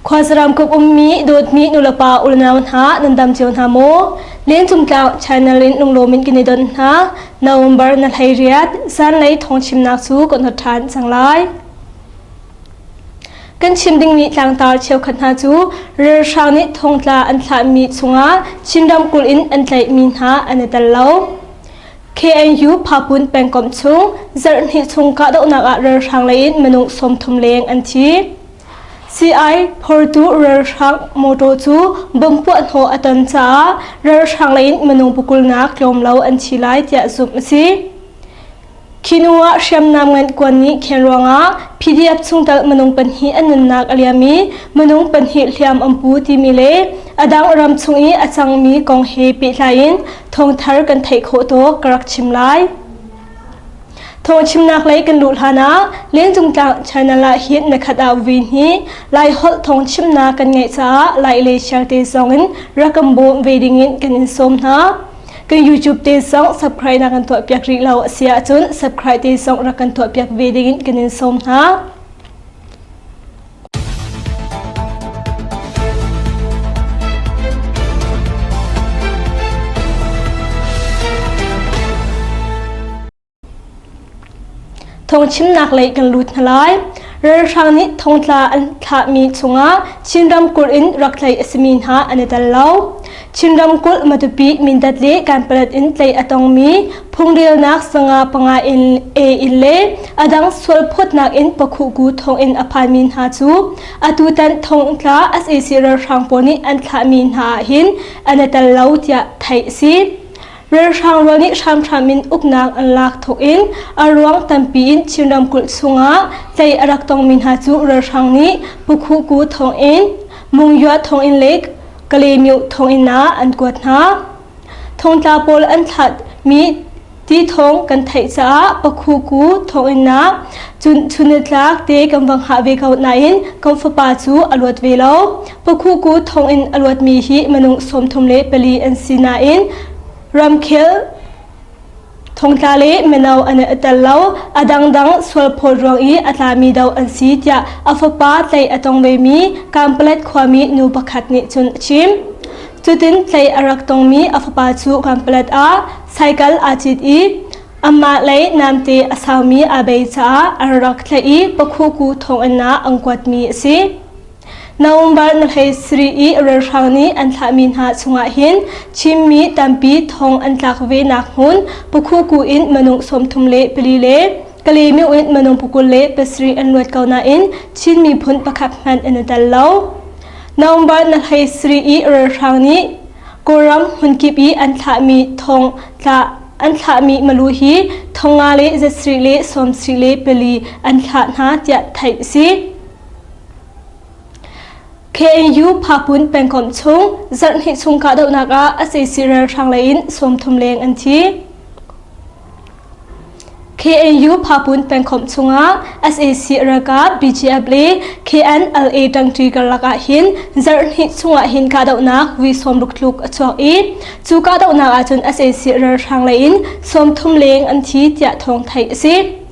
Khuasaram kuk ummi dawtmi nulepa unau hna nan dam cio hna maw? Len cum tlau channel in lunglaw min kin i don hna. November na hlei riat, zanlei thong chimnak cu kan hot ṭhan sang lai. Kan chim dingmi tlangtar cheukhat hna cu ralhrang nih thongtla an thlahmi chungah Chin ramkulh in an tlaihmi hna an i tel lo. KNU Phapun pengkomh chung zarh hnih chung kahdohnak ah ralhrang lei in minung sawmthum leng an thi. CI phortu ralhrang motor cu bom puahhnawh a ton caah ralhrang lei in minung bukulnak tlawmlo an thi lai tiah zumh a si. Khi hnu ah hriamnam ngankuan nih khen ruangah PDF chungtel minung pahnih an nunnak a liam i minung pahnih hliam an pu timi le a dang ram chung i a cangmi kong he pehtlai in thawngthar kan theih khawh tawk ka rak chim lai. Thawngchimnak lei kan luh hlan ah Lengzung Tlang channel ah hin na khat ah vi hi Lai holh thawngchimnak kan ngeih caah Lai le Siangte zong in rakam bawm ve ding in kan in sawm hna. kan youtube te song subscribe na kan tuah piak rih lo asiah ahcun subscribe te song rak kan tuah piak ve ding in kan in sawm hna Thawngchimnak lei kan lut hna lai. Ralhrang nih thongtla an thlahmi chungah Chin ramkulh in rak tlaih a simi hna an i tel lo. Chin ramkulh Matupi Mindat le Kanpalat in tlaih a tongmi phungrilnak sanga panga in A in le a dang sualphawtnak in Pakhuku thong in a phanmi hna cu atutan thongtla sac ralhrang pawl nih an thlahmi hna ah hin an i tel lo tiah theih a si. Ralhrangrual nih hramhram in uknak an lak thawk in a ruang tampi in Chin ramkulh chungah tei a rak tongmi hna cu ralhrang nih Pukhuku thong in, Mungyua thong in le Kalemyo thong in ah an kuat hna. Thongtla pawl an thlahmi ti thong kan theih caah Pukhuku thong in ah chun chun le tlak te kan vang hah ve ko nain kan fapa cu a luat ve lo. Pokhuku thonginn a luatmi hi minung sawmthum le pali an si nain ramkhel thongtla le mino an i tel lo. A dangdang sualphawt ruang i a tlami doh an si tiah a fapa tlei a tong vemi Kampalet khuami nu pakhat nih cun a chim. Cutin tlei a rak tongmi a fapa cu Kampalet ah cycle aa cit i amah lei namte a saumi aa bei caah an rak tlaih i Pokhuku thonginn ah an kuatmi a si. Naumbar na hlei sarih i ralhrang nih an thlahmi hna chungah hin Chinmi tampi thong an tlak ve nak hmun Pukhuku in minung sawmthum le pali le Kalemi in minung pukul le pasarih an luat ko nain Chin miphun pakhat hmanh an i tel lo. Naumbar na hlei sarih i ralhrang nih Kawlram hmunkip i an thlahmi thong tla an thlahmi malu hi thong nga le zasarih le sawmsarih le pali an thlah hna tiah theih a si. KNU Phakun pengkomh chung zarh hnih chung kahdohnak ah SAC ralhrang lei in sawmthum leng an thi. KNU Phakun pengkomh chungah SAC ralkap BGF le KNLA tangti karlak ah hin zarh hnih chungah hin kahdohnak vi sawmruk tluk a chuak i cu kahdohnak ahcun SAC ralhrang lei in sawmthum leng an thi tiah thawng theih a si.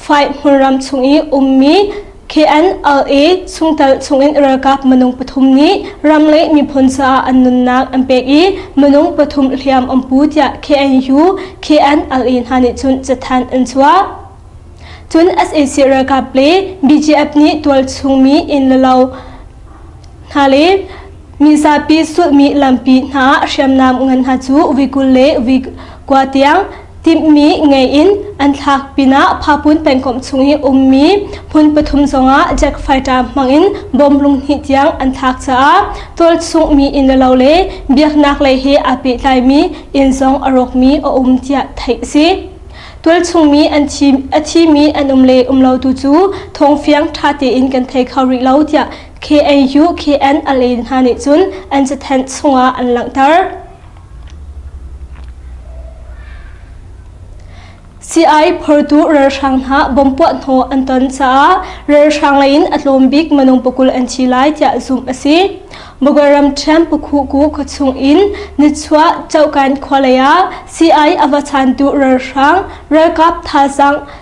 Faihmul ram chung i ummi KNLA chungtel chungin ralkap minung pathum nih ram le miphun caah an nunnak an pek i minung pathum hliam an pu tiah KNU KNLA hna nih cun cathanh an chuah. Cun SAC ralkap le BGF nih tualchungmi inn le lo hna le Minsapi sulhmi lampi hna hriamnam ngan hna cu uikul le uikua tiang timhmi ngei in an thlak pinah phapun pengkomh chung i ummi hmun pathum zongah jack fighter hmangin bom lunghnih tiang an thlak caah tualchungmi inn le lo le biaknak lei he aa pehtlaimi inn zong a rawkmi a um tiah theih a si. Tualchungmi an thi, a thimi an um le um lo tu cu thawng fiang ṭha tein kan thei kho rih lo tiah KAU KN a len hna nih cun an cathanh chungah an langhter. CI phortu ralhrang hna bom puah hno an ton caah ralhrang leiin a tlawm bik manung pukul an thi lai tiah zumh a si. Bagaram Thiam Pukhuku khuachung in Nichuah Chaukan khua lei ah CI a va chantu ralhrang ralkap thazang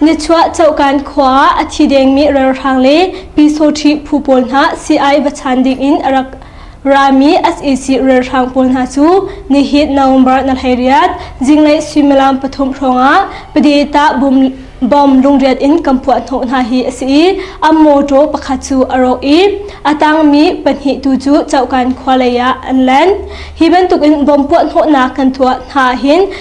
Nichuah Cohkan khua a thi dengmi ralhrang le Pysothi phu pawl hna si-ai bachan dingin a rak rami SAC ralhrang pawl hna cu nihin November na hleiriat zinglei suimilam pathum hrawngah Padeta bomb lungriat in kan puah hnawh hna hi a si i an motor pakhat cu a rawk i a tangmi pahnih tu cu Cohkan khua lei ah an lan. Hi bantukin bomb puah hnawhnak kan tuah hna hin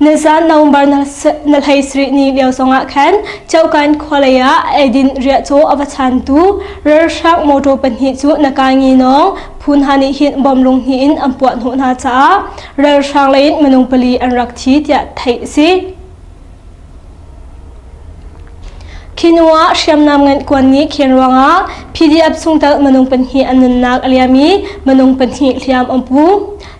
Na zan November na hleisarih ni lio zongah khan Chokan khualei ah eidin riahcaw a va chantu ralhrang motor pahnih cu na ka nginawng phun ha nih hin bom lung hnih in an puah hnawh hna caah ralhrang lei in minung pali an rak thi tiah theih a si. Khinu ah hriamnam ngan kuan ni khen ruangah PDF sungtal manung pahnih an nunnak a liam i manung pahnih hliam an pu.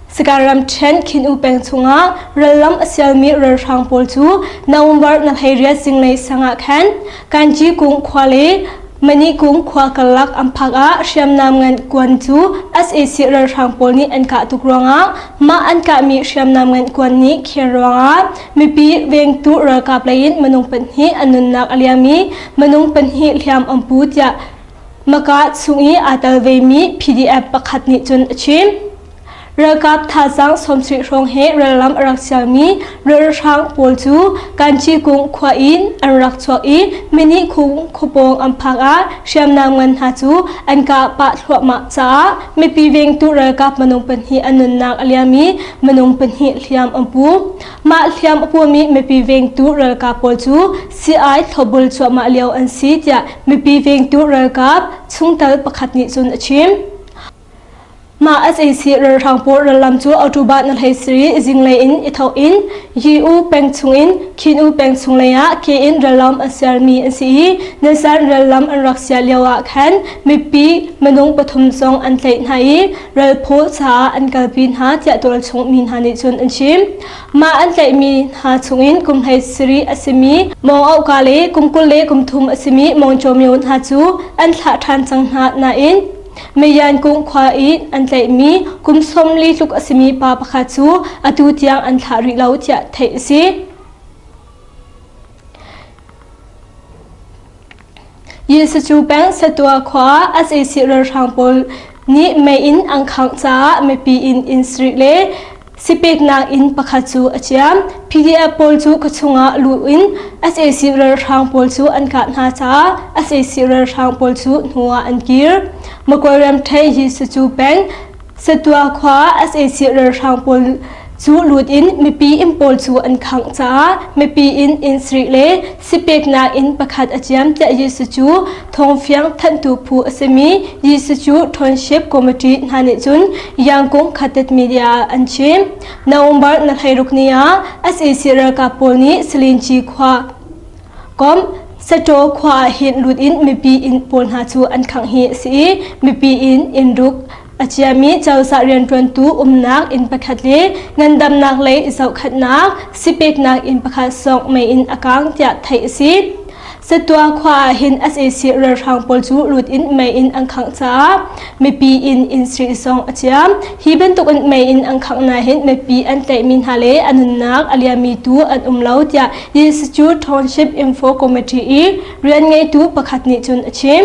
Sakan ramṭhen Khin U peng chungah rallam a sialmi ralhrang pawl cu November na hleiriat zinglei sang ah khan Kanji kung khua le Mani kung khua karlak an phak ah hriamnam ngan kuan cu SAC ralhrang pawl nih an kah tuk ruangah mah an kahmi hriamnam ngan kuan nih khir ruangah mipi vengtu ralkap lei in minung pahnih an nunnak a liam i minung pahnih hliam ampu tiah Maka chung i aa tel vemi PDF pakhat nih cun a chim. Ralkap thazaang sawmsarih hrawng he rallam a rak sialmi ralhrang pawl cu Kanchikung khua in an rak chuak i Minikhung khuapawng an phak ah hriamnam ngan hna cu an kah pah thluahmah caah mipi vengtu ralkap minung pahnih an nunnak a liam i minung pahnih hliam an pu. Mah hliam a pumi mipi vengtu ralkap pawl cu si-ai thlobul cuahmah lio an si tiah mipi vengtu ralkap chungtel pakhat nih cun a chim. Mah SAC ralhrang pawl rallam cu Autobah na hlei siri zinglei in i thawk in Yi-u peng chungin Khin-u peng chung leiah ke in rallam a sialmi an si i Nisan rallam an rak sial lio ah khan mipi minung pathum zong an tlaih hna i ralphaw caah an kalpi hna tiah tualchung mi hna nih cun an chim. Mah an tlaihmi hna chungin kum hlei siri a simi Mawng Auka le kum kul le kum thum a simi Mawngcaw Myo hna cu an thlah ṭhan cang hna nain Meian kung khua i an tlaihmi kum sawm li tluk a simi pa pakhat cu atu tiang an thlah rih lo tiah theih a si. Yesucu peng Satua khua sac ralhrang pawl nih mei in an khangh caah mipi in inn sarih le Sipeknak in pakhat cu a ciam. PDF pawl cu ka chungah lut in sac ralhrang pawl cu an kah hna caah sac ralhrang pawl cu hnuah an kir. Makawlrem Ṭhei hi Sacu peng Satua khua sac ralhrang pawl cu lut in mipi inn pawl cu an khangh caah mipi in inn sarih le Sipeknak in pakhat a ciam tiah Jesuh cu thongfiang thanhtu phu a simi Jesuh cu Township Committee hna nih cun Yangkung Khatet Media ah an chim. November na thleiruk ni ah SAC ralkap pawl nih Salinci khua komh Sato khua ah hin lut in mipi inn pawl hna cu an khangh hi a si i mipi inn inn ruk A chiami cozah rianṭuantu umnak inn pakhat le ngandamnak lei zohkhatnak sipeknak inn pakhat sawk mei in a kaang tiah theih a si. Satua khua ah hin sac ralhrang pawl cu lut in mei in an khangh caah mipi in inn sri sawng a ciam. Hi bantukin mei in an khangh hin mipi an tlaihmi hna le a nunnak a liammi tu an um lo tiah Institute Township Info Committee i rian ngeitu pakhat nih cun a chim.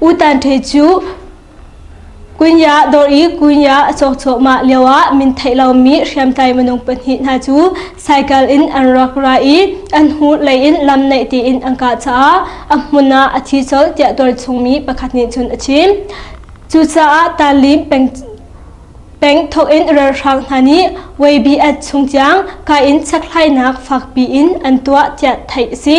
U Tan Ṭhei cu Kunya dawr i Kunya a cawkcawhmah lioah min theih lomi hriamtlai minung pahnih hna cu cycle in an rak ra i an hnur lei in lam neih tiin an kah caah a hmun ah a thi colh tiah tualchungmi pakhat nih cun a chim. Cucaah talim peng peng thawk in ralhrang hna nih weibi at chung tiang ka in chakhlainak fakpi in an tuah tiah theih a si.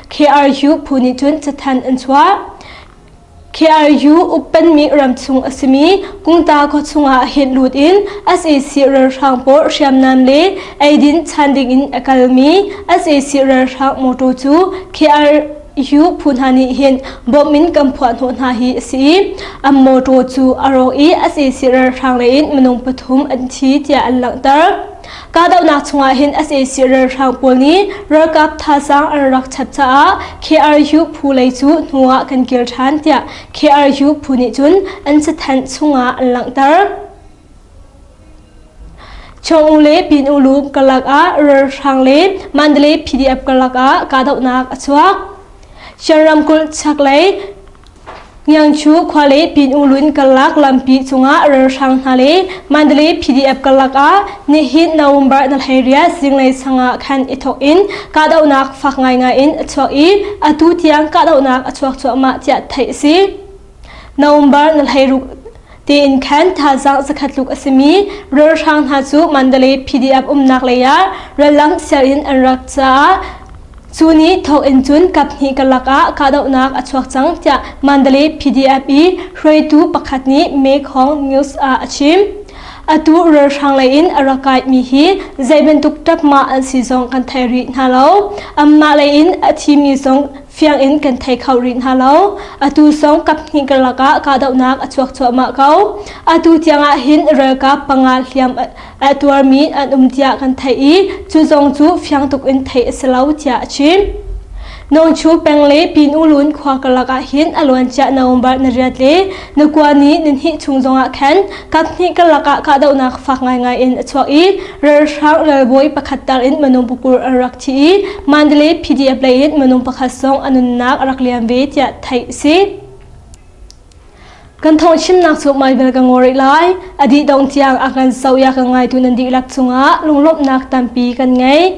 KRU phu nih cun cathanh an chuah. KRU uppenmi ram chung a simi Kungta khua chungah hin lut in SAC ralhrang pawl hriamnam le eidin chan dingin a kalmi SAC ralhrang motor cu KRU phu hna nih hin bom in kan phuah hnawh hna hi a si i an motor cu a rawk i SAC ralhrang leiin minung pathum an thi tiah an langhter. Kahdohnak chungah hin SAC ralhrang pawl nih ralkap thazaang an rak chap caah KRU phu lei cu hnu ah kan kir ṭhan tiah KRU phu nih cun an cathanh chungah an langhter. Chawng le Pin Ulu karlak ah ralhrang le Mandalay PDF karlak ah kahdohnak a chuak. Shan ramkulh chaklei Hniangchu khua le pinung lun karlak lampi chungah ralhrang hna le Mandalay PDF karlak ah nihin November na hleiriah zinglei sangah khan i thok in kahdohnak fak ngai ngai in a chuak i atu tiang kahdohnak a chuak cuahmah tiah theih a si. November na hleiruk Tiin khan thazaang zakhat tluk a simi ralhrang hna cu Mandalay PDF umnak lei ah rallang sianginn an rak caah cu ni thawk in cun kap hnih ka lak ah kahdohnak a chuak cang tiah Mandalay PDF i hruaitu pakhat nih Mekong News ah a chim. Atu ralhrang lei in a rak kaimi hi zei bantuk ṭap mah an si zong kan thei rih hna lo. Amah lei in a thimi zong fiangin kan thei kho rih hna lo atu zong kap hnih ka lakah kahdohnak a chuak chuahmah ko atu tiangah hin ralkap panga hliam a tuarmi an um tiah kan theih i cu zong cu fiang tuk in theih a si lo tiah a chim nongchu peng le pinu lun khua kalak ah hin a luancia november nariat le Na kua nih nan hnih chung zongah khan kap hnih ka lakah kahdohnak fak ngaingai in a chuak i ralhrang ralbawi pakhat tar in manung pukur an rak thi i Mandalay PDF lei in manung pakhat zong a nunnak a rak liam ve tiah theih a si. Kan thong chimnak cu mai vel ka ngori lai adi dong tiang akan sau ya kan ngai tu nan dihlak chungah lunglomhnak tampi kan ngei